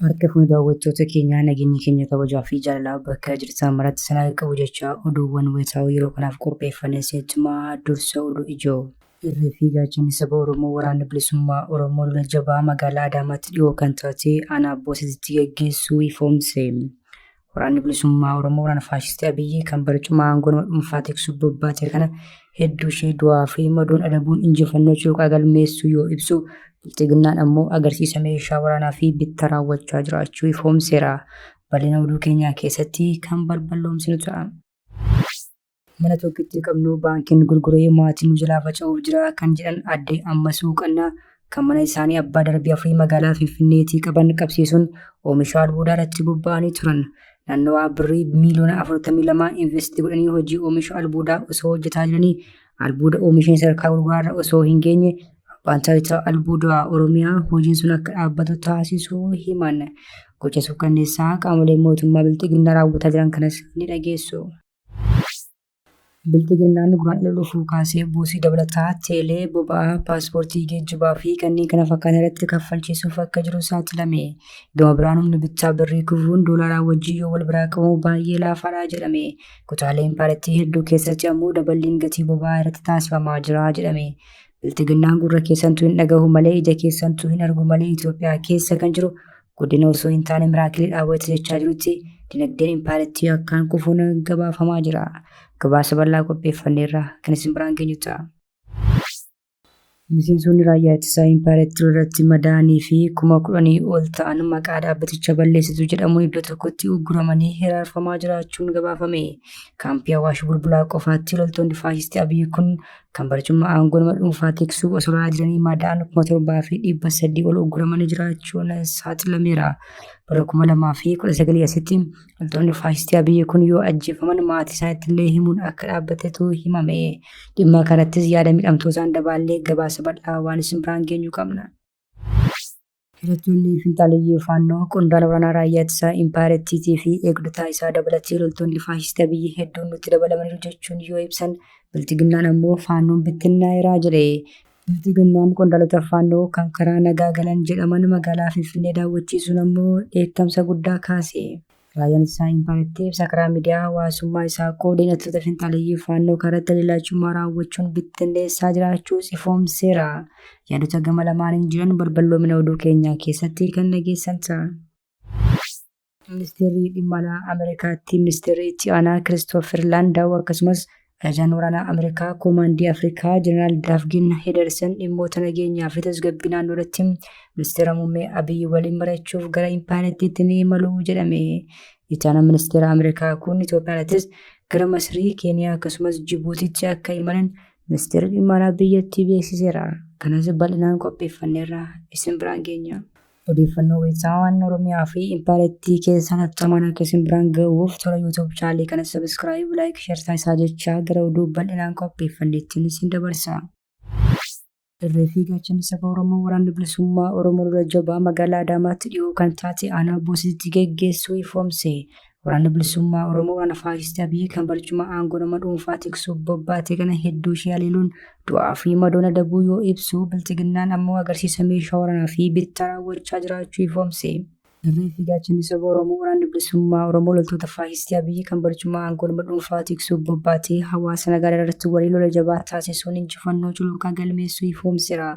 Harka fuune daawwattoota keenyaa nageenyi keenya kabajaa fi jaalalaa bakka jirtan maratti isin haa qabu jechaa oduuwwan wayitaawoo yeroo kanaaf qopheeffanne isinitti himaa dursa oduu ijoo. Irree fi gaachanni saba Oromoo Waraanni Bilisummaa Oromoo lola jabaa magaalaa Adaamaatti dhihoo kan taate aanaa Boosatitti gaggeessuu ifoomse. Waraanni bilisummaa Oromoo waraana faashistii Abiyyii kan barcuma aangoo nama dhuunfaa tiksuuf bobbaate kana hedduu ishee du'aa fi madoon adabuun injifannoo cuuqaa galmeessuu yoo ibsu bilxiginnaan ammoo agarsiisa meeshaa waraanaa fi bitta raawwachaa jiraachuu ifoomseera. Bal'ina oduu keenyaa keessatti kan balballoomsinu ta'a. Mana tokkittii qabnu baankiin gurguree maatii nu jalaa faca'uuf jira kan jedhan adde Ammasuu Qannaa kan mana isaanii abbaa darbii afurii magaalaa Finfinneetii qaban qabsiisuun oomisha albuudaa irratti bobba'anii turan. Naannawaa birrii miiliyoona 42 investii godhanii hojii oomisha albuudaa osoo hojjetaa jiranii albuuda oomishni sadarkaa gurguraarra osoo hin geenye abbaan taayitaa albuudaa Oromiyaa hojiin sun akka dhaabbatu taasisuu himan. Gocha suukkanneessaa qaamoleen mootummaa bilxiginnaa raawwataa jiran kanas ni dhageessu. Bilxiginnaan guraan dhufuu kaasee buusii dabalataa teelee, boba'aa, paaspoortii geejjibaa fi kanneen kana fakkaatan irratti kaffalchiisuuf akka jiru saaxilame. Gama biraan humni bittaa birrii kufuun doolaaraa wajjin yoo wal biraa qabamu baay'ee laafaadha jedhame. Kutaalee impaarattii hedduu keessatti ammoo daballiin gatii boba'aa irratti taasifamaa jira jedhame. Bilxiginnaan gurra keessantu hin dhagahu malee ija keessantu hin argu malee Itoophiyaa keessa kan jiru guddina osoo hin taane miraakiliidhaa wayita jechaa jirutti dinagdeen impaarettii akkaan kufuun gabaafamaa jira. Gabaasa bal'aa qopheeffanneerra kan isin biraan geenyu ta'a. Miseensonni raayyaa ittisaa impaarettii irratti madaa'anii fi kuma kudhanii ol ta'an maqaa dhaabbaticha balleessitu jedhamuun iddoo tokkotti ugguramanii hiraarfamaa jiraachuun gabaafame. Kaampii Awaash Bulbulaa qofaatti loltoonni faashistii Abiyyi kun kan barcummaa aangoo nama dhuunfaa tiksuu osoo lolaa jiranii madaa'an kuma torbaa fi dhibba sadii ol ugguramanii jiraachuun saaxilameera. Bara kuma lamaa fi kudha sagalii asitti loltoonni faashistii Abiyyi kun yoo ajjeefaman maatii isaaniitti illee himuun akka dhaabbatetu himame. Dhimma kanattis yaada miidhamtootaan dabaallee gabaasa bal'aa waan isin biraan geenyu qabna. Hidhattoonni finxaaleyyii Faannoo qondaala waraanaa raayyaa ittisaa Impaayera Ittiitii fi eegdotaa isaa dabalatee loltoonni faashistii Abiyyi hedduun nutti dabalamaniiru jechuun yoo ibsan, Bilxiginnaan ammoo Faannoon bittinnaa'eera jedhe. Bilxiginnaan qondaalota Faannoo kan karaa nagaa galan jedhaman magaalaa Finfinnee daawwachiisuun ammoo dheekkamsa guddaa kaase. Raayyaan Ittisaa Impaayeritti ibsa karaa miidiyaa hawaasummaa isaa qoodeen hidhattoota finxaaleyyii Faannoo karaa dalallaachummaa raawwachuun bittinneessaa jiraachuus ifoomseera. Yaadota gama lamaaniin jiran balballoomina oduu keenyaa keessatti kan dhageessan ta'a. Ministeerri Dhimma Alaa Ameerikaatti Ministeerri Itti Aanaa Kiristoofer Laandaaw akkasumas Ajajaan waraanaa Ameerikaa Koomaandii Afrikaa Jeneraal Daavgin Hedersen dhimmoota nageenyaa fi tasgabbii naannoo irratti ministeera muummee Abiyyi waliin mari'achuuf gara Impaayerattiitti ni imalu jedhame. Ittaanaan ministeera Ameerikaa kun Itoophiyaattis gara Masrii, Keeniyaa akkasumas Jibuutiitti akka imalan ministeerri dhimma alaa biyyattii beeksiseera. Kanas bal'inaan qopheeffanneerra isin biraan geenya. Odeeffannoo beeksisaa waan Oromiyaa fi Impaarettii keessaa tattamaan akka isin biraan ga'uuf tola YouTube chaalii kana subscribe, like, share taasisaa jechaa gara oduu bal'inaan qopheeffanneettiin isin dabarsa. Irree fi gaachanni saba Oromoo waraanni bilisummaa Oromoo lola jabaa magaalaa Adaamaatti dhiyoo kan taate aanaa Boositti geggeessuu ifoomse. Waraanni bilisummaa Oromoo waraana faashistii Abiyyi kan barcuma aangoo nama dhuunfaa tiksuuf bobbaate kana hedduu ishee haleeluun du'aa fi madoona dabuu yoo ibsu bilxiginnaan ammoo agarsiisa meeshaa waraanaa fi bittaa raawwachaa jiraachuu ifoomse. Irree fi gaachanni saba Oromoo waraanni bilisummaa Oromoo loltoota faashistii Abiyyi kan barcuma aangoo nama dhuunfaa tiksuuf bobbaatee hawaasa nagaa irratti walii lola jabaa taasisuun injifannoo cululuqaa galmeessuu ifoomsera.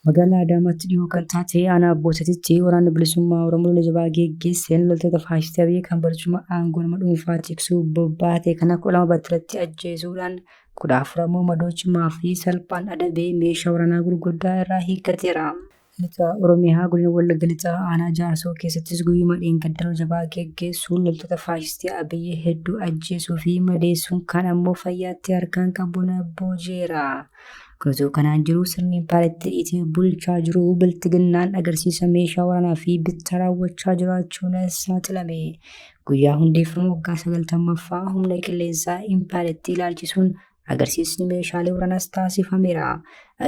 Magaalaa Adaamaatti dhihoo kan taate aanaa Boosatitti waraanni bilisummaa Oromoo lola jabaa geggeesseen loltoota faashistii Abiy kan barcuma aangoo nama dhuunfaa tiksuu bobbaate kana kudha lama battalatti ajjeesuudhaan kudha afur ammoo madoo cimaa fi salphaan adabee meeshaa waraanaa gurguddaa irraa hiikkateera. Lixa Oromiyaa godina Wallagga Lixaa aanaa Jaarsoo keessattis guyyuma dheengadda lola jabaa geggeessuun loltoota faashistii Abiy hedduu ajjeesuu fi madeessuun kaan ammoo fayyaatti harkaan qabuun booji'eera. Osoo kanaan jiru sirni paartii itti bulchaa jiru biltiginnaan agarsiisa meeshaa waraanaa fi bittaa raawwachaa jiraachuun saaxilame. Guyyaa hundeeffama waggaa sagaltammaffaa humna qilleensaa impaayeritti ilaalchisuun agarsiisni meeshaalee waraanaas taasifameera.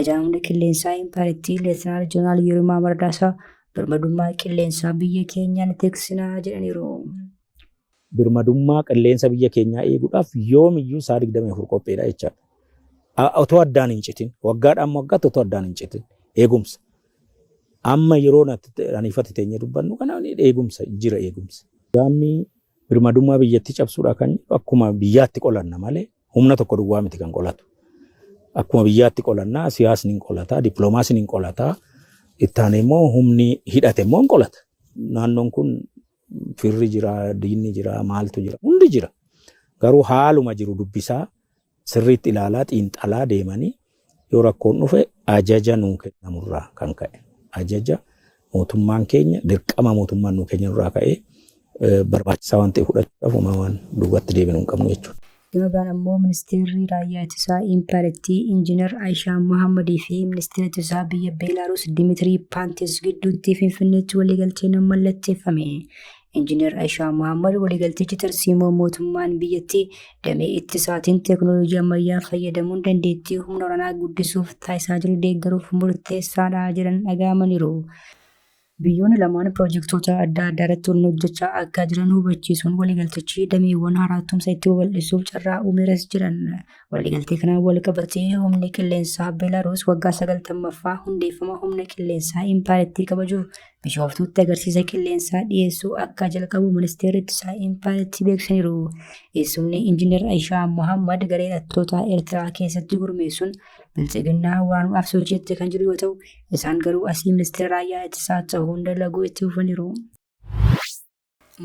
Ajaan humna qilleensaa impaayeritti Leetinaal Jeneraal Yirimaa Mardaasaa birmadummaa qilleensaa biyya keenyaan tiksinaa jedhaniiru. Birmadummaa qilleensa biyya keenyaa eeguudhaaf yoomiyyuu sa'a 24 qophiidha jechaadha. A- Otoo addaan hin citin, waggaadhaan waggaatti otoo addaan hin citin eegumsa. Amma yeroo natti- ani ifatti teenyee dubbannu kana eegumsa jira eegumsa. Gaammi birmadummaa biyyattii cabsuudha kan jedhu akkuma biyyaatti qolanna malee humna tokko duwwaa miti kan qolatu. Akkuma biyyaatti qolanna siyaasni hin qolata, dippiloomaasiin hin qolata, itti aanee immoo humni hidhate immoo hin qolata. Naannoon kun Firri jira, diinni jira, maaltu jira, hundi jira. Garuu haaluma jiru dubbisaa sirriitti ilaalaa xiinxalaa deemanii yoo rakkoon dhufe ajaja nuu kennamurraa kan ka'e ajaja mootummaan keenya dirqama mootummaan nuu kennamurraa ka'ee barbaachisaa waan ta'e fudhachuudhaaf uumaa waan duubatti deebinu hin qabnu jechuudha. Gama biraan ammoo Ministeerri Raayyaa Ittisaa Impaayerattii Injiinar Ayishaa Mohaammadii fi Ministeera Ittisaa biyya Beelaaruus Dimitirii Paantis gidduutti Finfinneetti waliigalteen mallatteeffame. Injiinar Ayishaa Mohaammad waliigaltichi tarsiimoo mootummaan biyyattii damee ittisaatiin teeknooloojii ammayyaa fayyadamuun dandeettii humna waraanaa guddisuuf taasisaa jiru deeggaruuf murteessaadha jedhan dhaga'amaniiru. Biyyoonni lamaan piroojektoota adda addaa irratti waliin hojjechaa akka jiran hubachiisuun waliigaltichi dameewwan haaraa tumsa itti babal'isuuf carraa uumeeras jedhan. Waliigaltee kanaan walqabatee humni qilleensaa Beelaaruus waggaa 90ffaa hundeeffama humna qilleensaa impaayerattii kabajuuf Bishooftuutti agarsiisa qilleensaa dhiyeessuu akka jalqabu ministeerri ittisaa impaayerattii beeksisaniiru. Eessumni Injiinar Ayishaa Mohaammed garee hidhattootaa Eertiraa keessatti gurmeessuun biltsiginnaa waanuudhaaf sochiitti kan jiru yoo ta'u, Isaan garuu asii ministeera raayyaa ittisaa ta'uun dalaguu itti fufaniiru.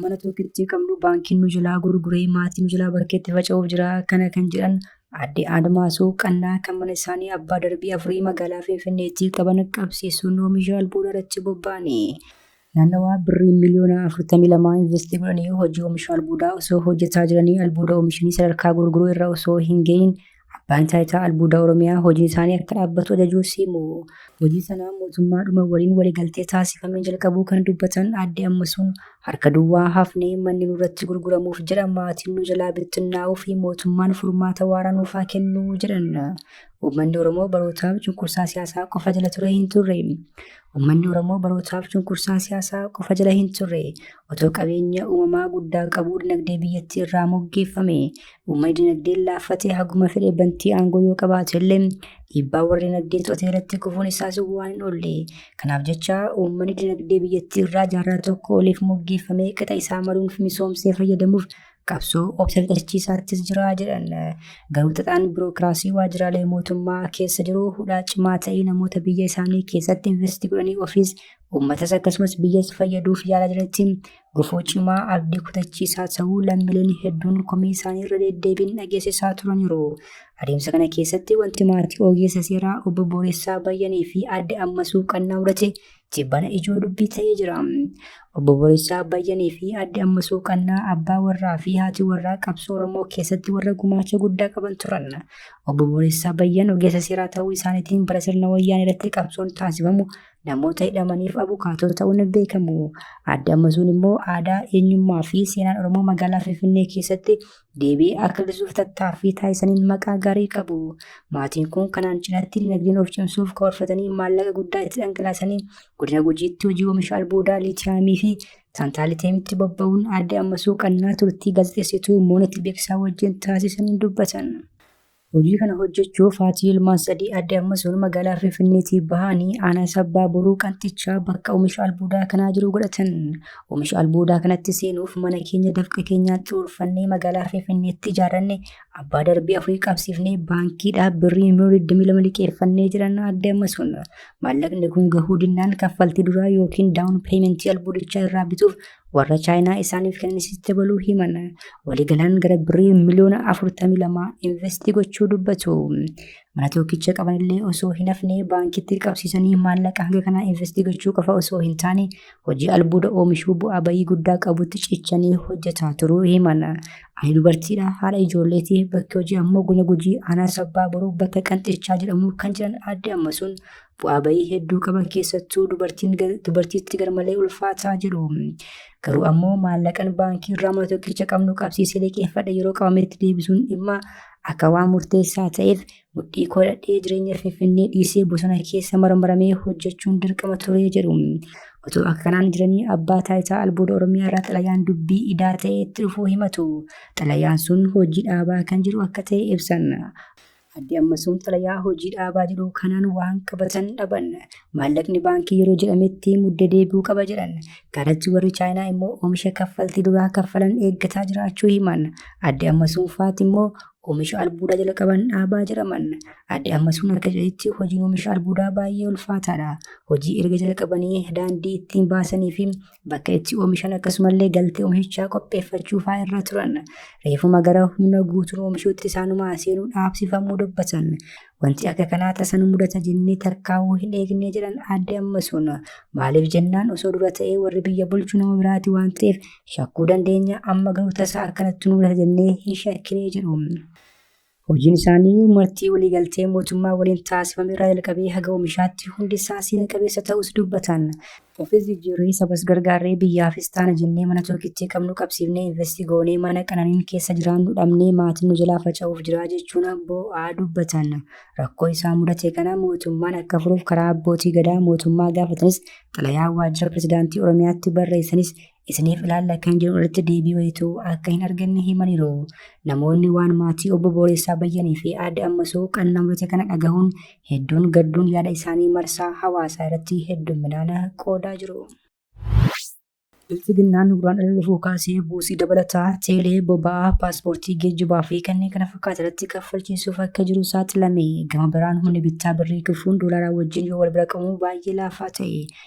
Mana tokkittii qabnu baankiin nu jalaa gurguree maatii nu jalaa bakkeetti faca'uuf jira kana kan jedhan Aadde Admaasuu Qannaa kan mana isaanii abbaa darbii afurii magaalaa Finfinneetti qaban qabsiisuun oomisha albuudaa irratti bobba'anii Naannawaa birrii miliyoona 42 investii godhanii hojii oomisha albuudaa osoo hojjetaa jiranii albuuda oomishanii sadarkaa gurguruu irra osoo hin ga'iin abbaan taayitaa albuuda Oromiyaa hojii isaanii akka dhaabbatu ajajuu siimu. Hojii sanaa mootummaadhuma waliin waliigaltee taasifamee jalqabuu kan dubbatan aadde Ammasuun harka duwwaa hafnee manni nurratti gurguramuuf jedha maatiin nu jalaa bittinnaa'uu fi mootummaan furmaata waaraa nuuf haa kennuu jedhan. Uummanni Oromoo barootaaf cunqursaa siyaasaa qofa jala ture hin turre. Uummanni Oromoo barootaaf cunqursaa siyaasaa qofa jala hin turre. Otoo qabeenya uumamaa guddaa qabuu dinagdee biyyattii irraa moggeeffame. Uummanni dinagdeen laaffatee haguma fedhe bantii aangoo yoo qabaate illee dhiibbaa warra dinagdeen to'atee irratti kufuun isaas waan hin oolle. Kanaaf jecha uummanni dinagdee biyyattii irraa jaarraa tokko oliif moggeeffamee qixa isaa maruun misoomsee fayyadamuuf qabsoo obsa fixachiisaattis jira jedhan garuu xaxaan birookiraasii waajjiraalee mootummaa keessa jiru hudhaa cimaa ta'ee namoota biyya isaanii keessatti investi godhanii ofiis uummatas akkasumas biyyas fayyaduuf yaalaa jiranitti gufuu cimaa abdii kutachiisaa ta'uu lammileen hedduun komii isaanii irra deddeebiin dhageessisaa turaniiru. Adeemsa kana keessatti wanti maatii ogeessa seeraa obbo Booressaa Bayyanii fi adde Ammasuu Qannaa mudate tibbana ijoo dubbii ta'ee jira. Obbo Borisaa Abbayyanii fi Adde Ammasuu Qannaa abbaa warraa fi haati warraa qabsoo Oromoo keessatti warra gumaacha guddaa qaban turan. Obbo Borisaa Abbayyan ogeessa seeraa ta'uu isaaniitiin bara sirna wayyaan irratti qabsoon taasifamu namoota hidhamaniif abukaatoo ta'uun beekamu. Adde Ammasuun immoo aadaa, eenyummaa fi seenaan Oromoo magaalaa Finfinnee keessatti deebi'ee akka argisiisuuf tattaaffii taasisaniin maqaa gaarii qabu. Maatiin kun kanaan cinatti dinagdeen of cimsuuf karoorfatanii maallaqa guddaa itti dhangalaasanii godina Gujiitti hojii oomisha albuudaa liitiyaamii fi taantaaliteemitti bobba'uun aadde Ammasuu Qannaa turtii gaazexeessituu Moonit Beeksisaa wajjin taasisaniin dubbatan. Hojii kana hojjechuuf haati ilmaan sadii adde Ammasuun magaalaa Finfinneetii bahanii aanaa sabbaa boruu qanxichaa bakka oomisha albuudaa kanaa jiru godhatan. Oomisha albuudaa kanatti seenuuf mana keenya dafqa keenyaan xuurfannee magaalaa Finfinneetti ijaarranne abbaa darbii afurii qabsiifnee baankiidhaa birrii miliyoona 22 liqeeffannee jiran adde Ammasuun. Maallaqni kun gahuu dinnaan kaffaltii duraa yookiin daawun peementii albuudichaa irraa bituuf warra chaayinaa isaaniif kennisitti baluu himan waliigalaan gara birrii miliyoona 42 investii gochuu dubbatu mana tokkicha qabanillee osoo hin hafne baankitti qabsiisanii maallaqa hanga kanaa investii gochuu qofa osoo hin taane hojii albuuda oomishuu bu'aa bayii guddaa qabutti cichanii hojjetaa turuu himan ani dubartiidha haadha ijoolleetii bakki hojii ammoo guna gujii aanaa sabbaa boruu bakka qanxichaa jedhamu kan jiran adde ammasuun bu'aa ba'ii hedduu qaban keessattuu dubartiin gar- dubartiitti garmalee ulfaataa jedhu. Garuu ammoo maallaqan baankii irraa mana tokkicha qabnu qabsiisee liqeeffadhe yeroo qabametti deebisuun dhimma akka waan murteessaa ta'eef mudhii koo dhadhee jireenya finfinnee dhiisee bosona keessa marmaramee hojjechuun dirqama ture jedhu. Otoo akka kanaan jiranii abbaa taayitaa albuuda Oromiyaa irraa xalayaan dubbii idaa ta'ee itti dhufuu himatu. Xalayaan sun hojii dhaabaa kan jedhu akka ta'e ibsan. Adde Ammasuun xalayaa hojii dhaabaa jedhu kanaan waan qabatan dhaban. Maallaqni baankii yeroo jedhametti mudde deebi'uu qaba jedhan. Kanatti warri Chaayinaa immoo oomisha kaffaltii duraa kaffalan eeggataa jiraachuu himan. Adde Ammasuun faati immoo oomisha albuudaa jalqaban dhaabaa jedhaman. Adde Ammasuun akka jedhanitti hojiin oomisha albuudaa baay'ee ulfaataadha. Hojii erga jalqabanii daandii ittiin baasanii fi bakka itti oomishan akkasumallee galtee oomishichaa qopheeffachuu fa'aa irra turan reefuma gara humna guutuun oomishuutti isaanumaa seenuu dhaabsifamuu dubbatan wanti akka kanaa tasan mudata jennee tarkaa'uu hin eegnee jedhan aadde ammasuun maaliif jennaan osoo dura ta'ee warri biyya bulchu nama biraati waan ta'eef shakkuu dandeenya amma garuu tasaa akkanatti mudata jennee hin shakkinee jedhu. Hojiin isaanii martii waliigaltee mootummaa waliin taasifame irraa jalqabee haga oomishaatti hundi isaa seena qabeessa ta'uus dubbatan. Ofis jijjiirree sabas gargaarree biyyaafis taana jennee mana tokkittii qabnu qabsiifnee investi goonee mana qananiin keessa jiraannu dhabnee maatiin nu jalaa faca'uuf jiraa jechuun boo'aa dubbatan. Rakkoo isaa mudate kana mootummaan akka furuuf karaa abbootii gadaa mootummaa gaafatanis xalayaa waajjira pirezidaantii Oromiyaatti barreessanis isiniif ilaalla kan jiru irratti deebii wayituu akka hin arganne himaniiru. Namoonni waan maatii obbo Booressaa Bayyanii fi aadde Ammasuu qannamurate kana dhagahuun hedduun gadduun yaada isaanii marsaa hawaasaa irratti hedduminaan qoodaa jiru. Bilxiginnaan guraan ala dhufuu kaasee buusii dabalataa, teelee, boba'aa, paaspoortii, geejjibaa fi kanneen kana fakkaatan irratti kaffalchiisuuf akka jiru saaxilame. Gama biraan humni bittaa birrii kufuun doolaaraa wajjin yoo wal bira qabamu baay'ee laafaa ta'e.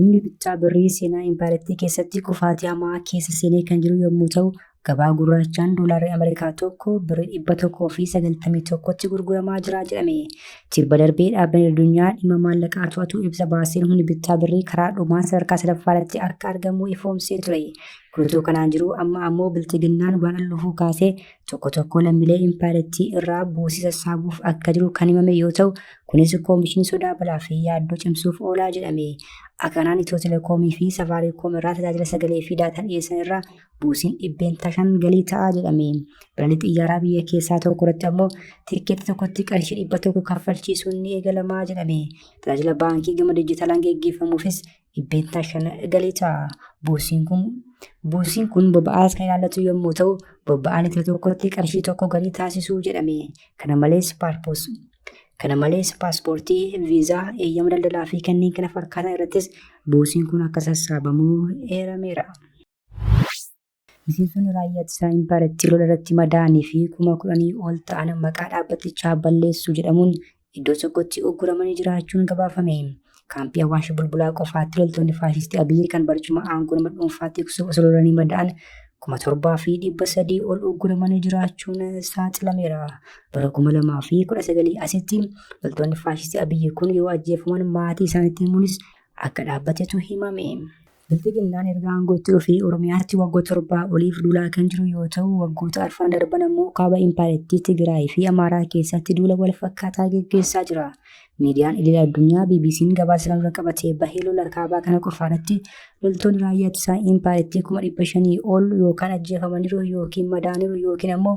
Humni bittaa birrii seenaa impaayerattii keessatti kufaatii hamaa keessa seenee kan jiru yommuu ta'u, gabaa gurraachaan doolaarri Ameerikaa tokko birrii dhibba tokkoo fi sagaltamii tokkotti gurguramaa jira jedhame. Tibba darbee dhaabbanni addunyaa dhimma maallaqaa to'atu ibsa baaseen humni bittaa birrii karaa dhumaa sadarkaa sadaffaa irratti akka argamu ifoomsee ture. Guutuu kanaan jiru amma ammoo bilxiginnaan waan al dhufuu kaasee tokko tokko lammiilee impaayerattii irraa buusii sassaabuuf akka jiru kan himame yoo ta'u kunis koomishinii sodaa balaa fi yaaddoo cimsuuf oolaa jedhame akka kanaan itiyoo telekoomii fi safaariikoom irraa tajaajila sagalee fi daataa dhiyeessan irraa buusiin dhibbeentaa shan galii ta'aa jedhame balalii xiyyaaraa biyya keessaa tokko irratti ammoo tikkeetti tokkotti qarshii dhibba tokko kaffalchiisuun ni eegalamaa jedhame tajaajila baankii gama dijitaalaan geggeeffamuufis dhibbeentaa shan galii ta'a buusiin kun. Buusiin kun boba'aas kan ilaallatu yommuu ta'u boba'aa litira tokkotti qarshii tokko galii taasisuu jedhame. Kana malees paarpoos kana malees paaspoortii, viizaa, eeyyama daldalaa fi kanneen kana fakkaatan irrattis buusiin kun akka sassaabamu eerameera. Miseensonni raayyaa ittisaa impaarattii lola irratti madaa'anii fi kuma kudhanii ol ta'an maqaa dhaabbatichaa balleessuu jedhamuun iddoo tokkotti ugguramanii jiraachuun gabaafame. Kaampii Awaash Bulbulaa qofaatti loltoonni faashistii Abiyyi kan barcuma aangoo nama dhuunfaa tiksuuf osoo lolanii madaa'an kuma torbaa fi dhibba sadii ol ugguramanii jiraachuun saaxilameera. Bara kuma lamaa fi kudha sagalii asitti loltoonni faashistii Abiyyi kun yoo ajjeefaman maatii isaanitti himuunis akka dhaabbatetu himame. Bilxiginnaan erga aangootti dhufee Oromiyaatti waggoota torbaa oliif duulaa kan jiru yoo ta'u, waggoota arfan darban ammoo kaaba impaarettii Tigraay fi Amaaraa keessatti duula wal fakkaataa geggeessaa jira. Miidiyaan idil addunyaa BBC'n gabaasa kana dura qabatee bahee lola kaabaa kana qofaa irratti loltoonni raayyaa ittisaa impaarettii kuma dhibba shanii ol yookaan ajjeefamaniiru yookiin madaaniiru yookiin ammoo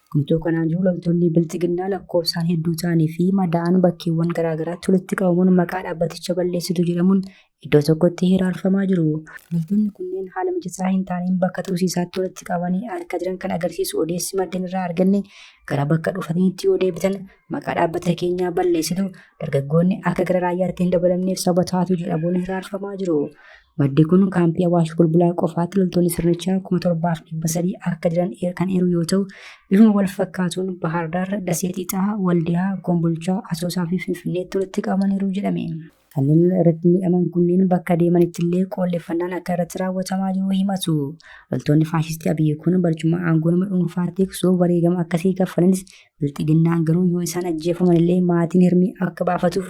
Guutuu kanaan jiru loltoonni bilxiginnaa lakkoofsaan hedduu ta'anii fi madaa'an bakkeewwan garaagaraatti walitti qabamuun maqaa dhaabbaticha balleessitu jedhamuun iddoo tokkotti hiraarfamaa jiru. Loltoonni kunneen haala mijataa hin taaneen bakka tursiisaatti walitti qabanii harka jiran kan agarsiisu odeessi maddeen irraa arganne gara bakka dhufataniitti yoo deebitan maqaa dhaabbata keenyaa balleessitu dargaggoonni akka gara raayyaatti hin dabalamneef saba taatu jedhamuun hiraarfamaa jiru. Maddi kun kaampii Awaash Bulbulaa qofaatti loltoonni sirnichaa kuma torbaaf dhibba sadii akka jiran kan eeru yoo ta'u, bifuma wal fakkaatuun Bahaar Daar, Dasee Xiixaa, Waldiyaa, Kombolchaa, Asoosaa fi Finfinneetti walitti qabamaniiru jedhame. Kanneen lola irratti miidhaman kunneen bakka deemanitti illee qoolleffannaan akka irratti raawwatamaa jiru himatu. Loltoonni faashistii Abiyyi kun barcuma aangoo nama dhuunfaa tiksuuf wareegama akkasii kaffalanis bilxiginnaan garuu yoo isaan ajjeefaman illee maatiin hirmii akka baafatuuf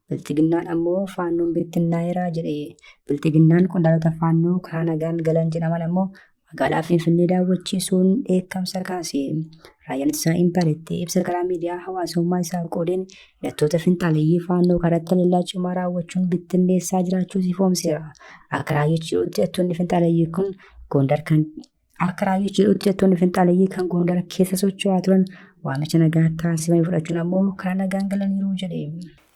Bilxiginnaan ammoo faannoon bittinnaa'eera jedhe. Bilxiginnaan qondaalota faannoo karaa nagaan galan jedhaman ammoo magaalaa Finfinnee daawwachiisuun dheekkamsa kaase. Raayyaan ittisaa impaayeritti ibsa karaa miidiyaa hawaasummaa isaa qoodeen hidhattoota finxaaleeyyii faannoo karatti haleellaa cimaa raawwachuun bittinneessaa jiraachuus ifoomseera. Akka raayyichi jedhutti hidhattoonni finxaaleeyyii kun Gondar kan Akka raayyichi jedhutti jettoonni finxaaleyyii kan Gondar keessa socho'aa turan waamicha nagaa taasifame fudhachuun ammoo karaa nagaan galaniiru jedhe.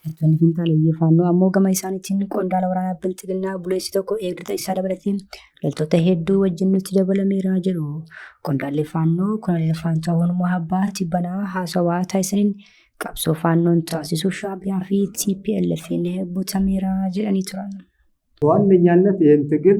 Jettoonni finxaaleyyii faannoo ammoo gama isaaniitiin qondaala waraanaa bilxiginnaa buleessi tokko eegdota isaa dabalatee loltoota hedduu wajjin nutti dabalameera jedhu. Qondaalli faannoo koloneel Faantaa Hunmaa Abbaa Tibbanaa haasawaa taasisaniin qabsoo faannoon taasisu shaabiyaa fi TPLF'n butameera jedhanii turan. ዋነኛነት ይህን ትግል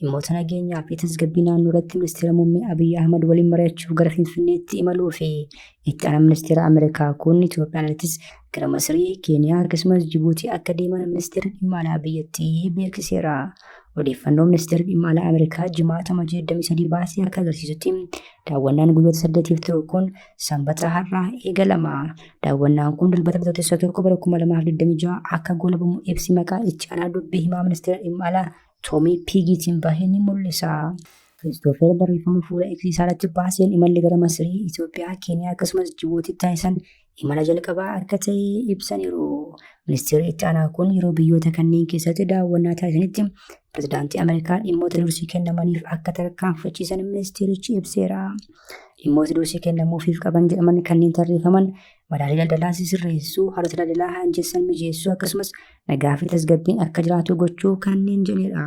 Dhimmoota nageenyaa fi tasgabbii naannoo irratti ministeera muummee Abiyyi Ahmad waliin mari'achuuf gara Finfinneetti imaluu fi itti aanaa ministeera Ameerikaa kun Itoophiyaan alattis gara Masirii, Keeniyaa akkasumas Jibuutii akka deeman ministeerri dhimma alaa biyyattii beeksiseera. Odeeffannoo ministeerri dhimma alaa Ameerikaa jimaata Amajjii 23 baasee akka agarsiisutti daawwannaan guyyoota saddeetiif turu kun sanbata har'aa eegalama. Daawwannaan kun dilbata bitootessa 1 bara 2026 akka goolabamu ibsi maqaa itti aanaa dubbii himaa ministeera dhimma alaa Toomii piigiitiin bahe ni mul'isa. Kiristoofer barreeffama fuula X isaarratti baaseen imalli gara Masirii, Itoophiyaa, Keeniyaa akkasumas Jibuutii taasisan imala jalqabaa akka ta'e ibsaniiru. Ministeerri itti aanaa kun yeroo biyyoota kanneen keessatti daawwannaa taasisanitti pirezidaantii Ameerikaa dhimmoota dursii kennamaniif akka tarkaanfachiisan ministeerichi ibseera. Dhimmoota dursii kennamuufiif qaban jedhaman kanneen tarreeffaman madaalii daldalaa sirreessuu, haalota daldalaa hanjessan mijeessuu akkasumas nagaa fi tasgabbiin akka jiraatu gochuu kanneen jedhedha.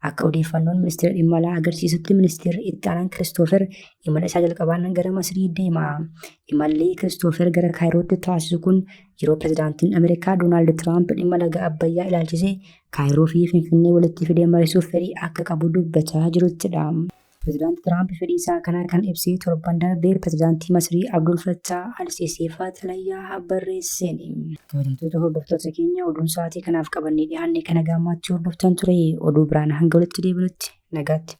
Akka odeeffannoon ministeera dhimma alaa agarsiisutti ministeerri itti aanaan Kiristoofer imala isaa jalqabaan gara Masirii deema. Imalli Kiristoofer gara Kaayirootti taasisu kun yeroo pirezidaantiin Ameerikaa Doonaald Tiraamp dhimma laga Abbayyaa ilaalchisee Kaayiroo fi Finfinnee walitti fidee mariisuuf fedhii akka qabu dubbachaa jiruttidha. Pirezidaanti Tiraamp fedhii isaa kana kan ibsee torban darbe pirezidaantii Masrii Abdul Fattah al-Sisiif xalayaa barreesseeni. Kabajamtoota hordoftoota keenya oduun sa'aatii kanaaf qabannee dhiyaanne kana gaammaatti hordoftan ture oduu biraan hanga walitti deebinutti nagaatti.